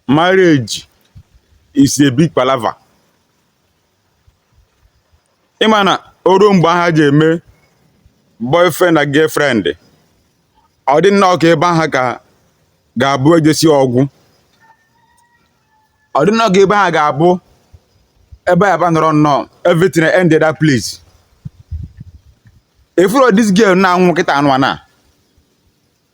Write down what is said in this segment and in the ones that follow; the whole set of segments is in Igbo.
marriage is a big palava ịma na o ruo mgbe ha ji eme boyfriend and girlfriend ọ dị nnọọ ka ebe ahụ ga-abụ ejesi ọ gwụ ọ dị nnọọ ka ebe ahụ ga-abụ ebe a ba nọrọ nnọọ everything ended that place ị fụrụ this girl na-anwụ kịta anụ a na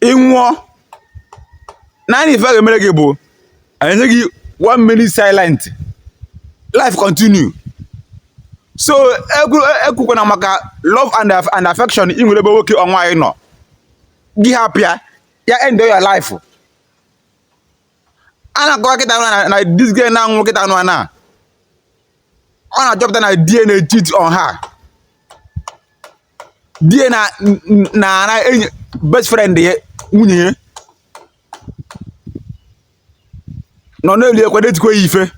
ị nwụọ naanị ife a ga-emere gị bụ enye gị one minute silent life continue so ekwukwana e maka love and and affection ị nwere ebe nwoke or nwaanyị nọ gị hapụ ya ya end your life a na-akọwa kịta na na this girl na-anwụ kịta nụ na ọ na-achọpụta na di ya na-acheat on her di ya na na na enyi best friend ya nwunye ya nọ na-eli ekwe na-etikwa ya ife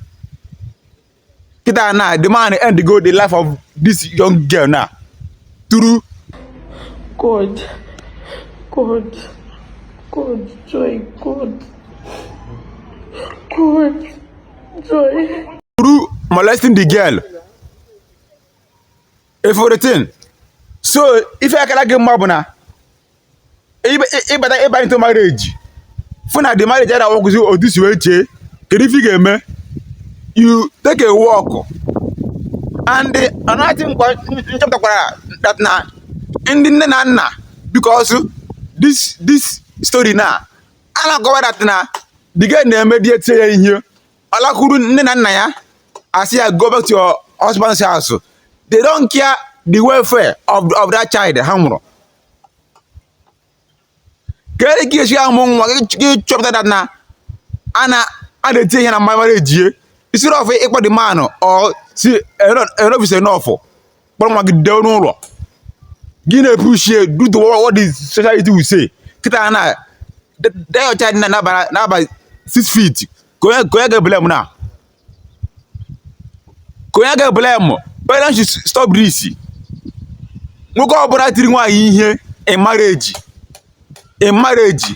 kịta na the man endigo the life of this young girl na through God, God, God, joy, God, God, joy. through molesting the girl ị fụrụ the thing so ife akara gị mma bụ na ị bata ị banye into marriage fụ na the marriage ada aworkụzi otu i si wee chee kedu ife ị ga-eme you take a walk and another thing m chọpụtakwara that na ndị nne na nna because this this story na a na-akọwa that na the girl na emee di ya tisie ya ihe ọ lakwuru nne na nna ya a sị ya go back to your husband's house they don't care the welfare of, of that child ha mụrụ kedu ka i si amụ nwa gị chọpụta that na a na a na-eti ya ihe na marriage instead of ịkpọ the man or sị enough is enough kpọrọ nwa gị dowe n'ụlọ gị na-epushi due to what the society will say kịta na that child na-aba six feet kee onye ị ga-eblame now kee onye ị ga-eblame parents should stop this nwoke ọbụla tiri nwaanyị ihe in marriage in marriage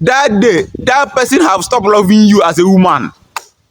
that day that person have stopped loving you as a woman